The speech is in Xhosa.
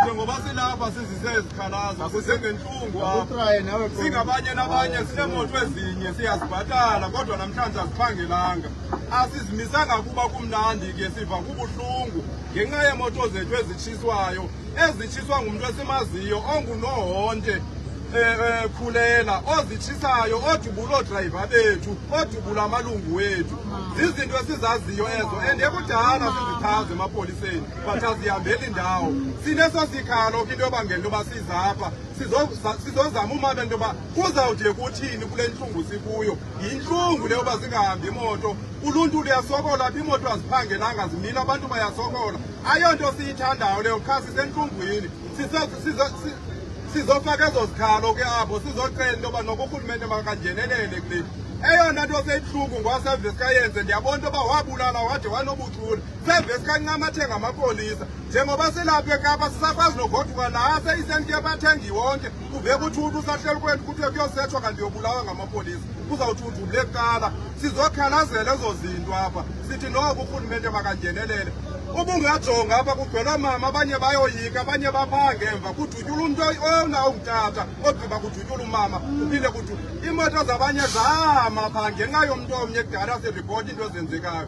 njengoba silapha sizise izikhalazo sisengentlungu apha singabanye nabanye sineemoto ezinye siyazibhatala kodwa namhlanje aziphangelanga asizimisanga kuba kumnandi ke siva kubuhlungu ngenxa yeemoto zethu ezitshiswayo ezitshiswa ngumntu esimaziyo ongunohonte eh, eh, khulela ozitshisayo odubula oodrayiva bethu odubula amalungu wethu zizinto esizaziyo ezo and ekudala sizichaze emapoliseni but azihambeli ndawo sineso sikhalo ke into yoba ngento yoba sizapha sizozama umabe into yoba kuzawude kuthini kule ntlungu sikuyo yintlungu le yoba zingahambi imoto uluntu luyasokola apha imoto aziphangelanga zimile abantu bayasokola ayonto siyithandayo leyo qha sisentlungwini sizofaka ezo zikhalo ke apho sizocela into yoba noba urhulumente makangenelele kule eyona nto seyibuhlungu ngwaseves kayenze ndiyabona into yoba wabulala wade wanobuthula sevesi kancamathe ngamapolisa njengoba silapha ekapa sisakwazi nogoduka la seyisenti yabathengi wonke kuve kuthi uthi usahleli kwethu kuthiwe kuyosethwa kanti yobulawa ngamapolisa kuzawuthi udubule kuqala sizokhalazela ezo zinto apha sithi noko urhulumente makangenelele ubungajonga apha kugcwela mama abanye bayoyika abanye baphaa ngemva kudutyula umntu ona ungutata ogqiba kudutyula umama uphinde kudu iimoto zabanye zama phaa ngenxa yomntu omnye kudala siripoti into ezenzekayo